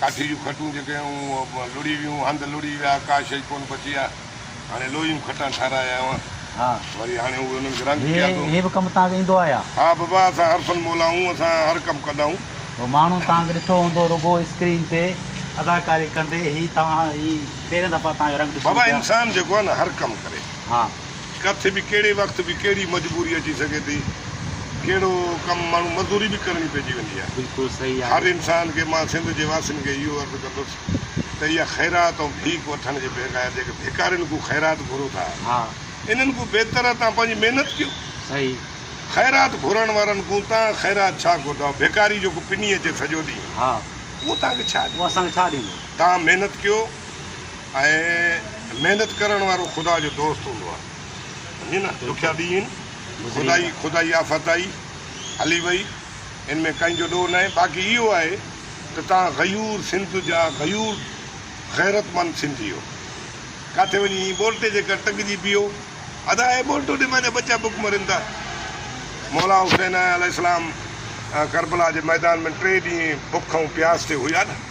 ڪاٺي جون کٽون جيڪي هيون اهي لڙهي ويون، هنڌ لڙهي ويا، ڪا شيء ڪونه بچي آ. هاڻي لوهي جون کٽان ٺهرايا آهيون وري هاڻي اهي انهن کي رنگ ڪيا ٿو. هي به ڪم تان کي ايندو آهيا. ها بابا اسان عرفن مولائون اسان هر ڪم ڪندائون. هو ماڻهو تان کي ڏٺو هوندو رڳو اسڪرين تي اداڪاري ڪندي هي تان هي پهرين دفعا تان جو رنگ ڏسون پيا. بابا انسان جيڪو آهي نه هر ڪم ڪري. ها. ڪٿي به ڪهڙي وقت به ڪهڙي مجبوري اچي سگهي ٿي، ڪهڙو ڪم ماڻهو مزدوري به ڪرڻي پئجي وڃي ها. بلڪل صحيح آهي. هر انسان کي مان سنڌ جي واسين کي اهو عرض ڪندس ته اها خيرات ۽ ڀيڪ وٺڻ جي بغير جيڪي ڀيڪارين کون خيرات گهرو ٿا ها. انهن کون بهتر آهي تان پنهنجي محنت ڪيو. صحيح. خيرات گهرڻ وارن کون تان خيرات ڇا گهرداو ڀيڪاري جيڪو پني اچي سڄو ڏينهن ها. اهو تان کي ڇا ڏيندو. اهو اسان کي ڇا ڏيندو. تان محنت ڪيو. ۽ محنت ڪرڻ وارو خدا جو دوست هوندو آهي سمجهي نه ڏکيا ڏينهن خدائي خدائي آفت آئي هلي وئي ان ۾ ڪنهن جو ڏوهه ناهي باقي اهو آهي ته توهان غيور سنڌ جا غيور غيرتمند سنڌيو ڪاٿي وڃي ايئن ٻولٽي جي ڪر ٽنگجي پيو ادا اي ٻولٽو ڏي مانجا ٻچا بک مرن ٿا مولا حسين عليه السلام ڪربلا جي ميدان ۾ ٽي ڏينهن بک ۽ پياس تي هيا نه